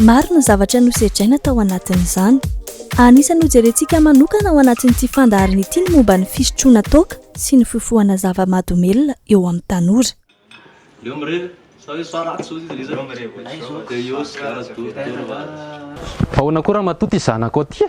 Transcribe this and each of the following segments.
Maro ny zavatra nosedraina tao anatin'izany. Anisan'ny hojerentsika manokana ao anatin'ity fandaharana ity ny momba ny fisotroana toaka sy ny fifohana zava-mahadomelina eo amin'ny tanora. Ahoana koa ramatoa ty zanakao ty e?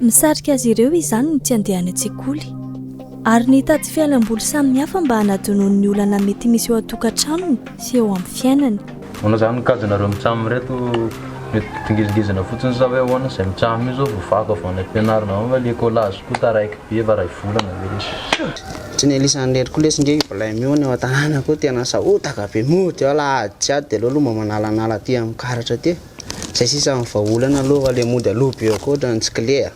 Misarika azy ireo izany ny tsy handehany an-tsekoly, ary ny hitady fialamboly samihafa mba hanadinoany ny olana mety misy eo an-tokantranony sy eo amin'ny fiainany. Manao izany ny kajinareo mitsam ireto, mety dingizingizina fotsiny sa hoe ahoana izay mitsam io zao vao vaky avy any ampianarina ao nga le collage koa taraiky be efa ray volana ve lesy. Tsy ny elisany irery koa lesy nge io blem io any ao an-tanàna koa tena sahotaka be mody ao la ady tsy ady de aleo aloha mba manalanala aty amin'ny karatra aty e. Zay sisa ny vahaolana aloha le mody aloha be akoatra ny tsy kle a.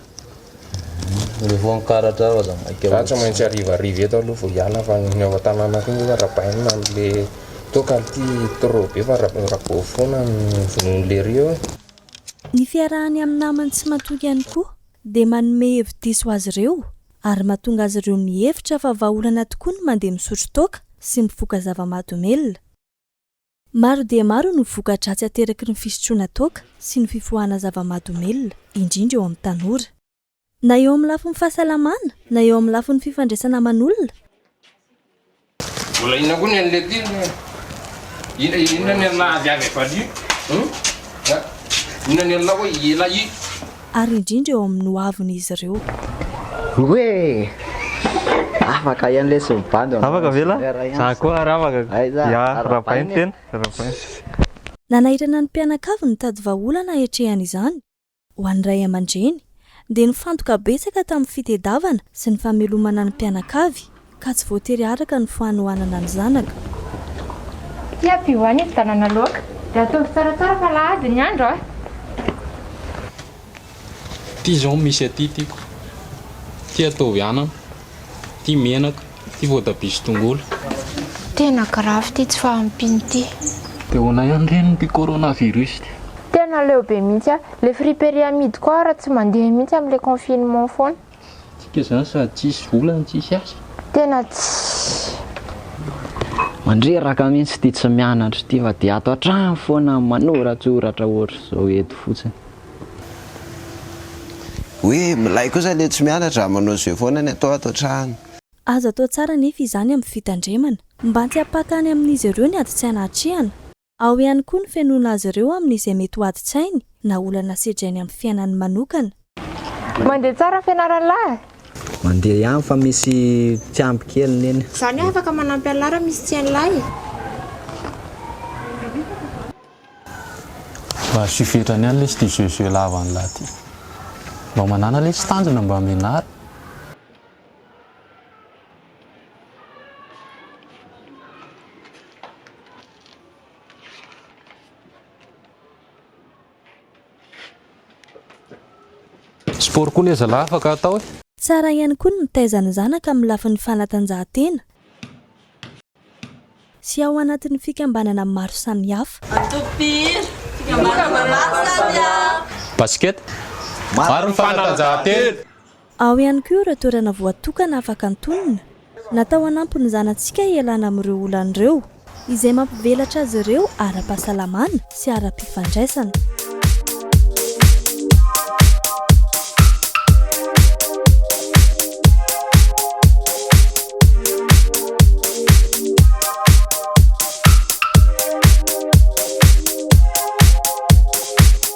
Le voankaratra ao aza maika ohatsy. Za tsy maintsy hariva hariva eto aloha vao hiala fa ny ao an-tanàna koa nge arabaina amle toaka ity trop be fa rabao fona ny vonono lery eo. Ny fiarahany amin'ny namany tsy matoky ihany koa dia manome hevi-diso azy ireo ary mahatonga azy ireo mihevitra fa vahaolana tokoa ny mandeha misotro toaka sy mifoka zava-mahadomelina. Maro dia maro no voka-dratsy ateraky ny fisotroana toaka sy ny fifohana zava-mahadomelina, indrindra eo amin'ny tanora. Na eo amin'ny lafiny fahasalamana, na eo amin'ny lafiny fifandraisana aman'olona, Mbola inona koa ny an'ilay aty aloha e? Inona ny an'ilay avy avy avy aty? Inona ny an'ilay hoe ela i? ary indrindra eo amin'ny hoavin'izy ireo. Oe! Afaka iany lesy mibandy anao. Afaka ve lahy? Za koa ary afaka. Aiza? Ya, Rabain tena, Rabain. Nanairana ny mpianakavy nitady vahaolana haetrehan' izany ho an'ny ray aman-dreny, dia nifantoka betsaka tamin'ny fitedavana sy ny famelomana ny mpianakavy Ka tsy voatery araka ny fanohanana ny zanaka. Tsy ampy ho any fividianana laoka. Dia ataovy tsaratsara fa alahady ny andro a! Ity izao no misy aty tiako. Ity ataovy anana. Ity menaka. Ity voatabia sy tongolo. Tena grave ity tsy fahampiana ity. Dia ahoana ihany re ny ity coronavirus ity. Tena leo be mihitsy a! Le friperie amidiko ao ary tsy mandeha mihitsy am le confinement foana. Tsika zany sady tsisy vola no tsisy asa. Tena tsy. Mandreraka mintsy ity tsy mianatra ity fa dia ato an-trano foana manoratsoratra ohatr'izao eto fotsiny. Hoe milay kosa le tsy mianatra manao jeu foana ny atao ato an-trano. Aza atao tsara anefa izany amin'ny fitandremana. Mba tsy hampaka any amin'izy ireo ny ady tsy hanatrehana. Ao ihany koa ny fenoana azy ireo amin'izay mety ho adin-tsainy na olana sedrainy amin'ny fiainany manokana. Mandeha tsara fianarana lahy? Mandeha ihany fa misy mpiampy kely neny. Zany hoe afaka manampy an'lahy raha misy tsy hain'lahy? Mba asio fetrany ihany lesy ty jeux jeux lava an'lahy ty. Mba manana lesy tanjona mba mianara. Sport koa anie zalah afaka atao e! Tsara ihany koa ny mitaiza ny zanaka amin'ny lafiny fanatanjahantena sy ao anatin'ny fikambanana maro samihafa. Antokom-pihira, fikambanana maro samihafa. Basket, maro ny fanatanjahantena. Ao ihany koa ireo toerana voatokana afaka antonona, natao hanampy ny zanatsika hialana amin'ireo olana ireo, izay mampivelatra azy ireo ara-pahasalamana sy ara-pifandraisana.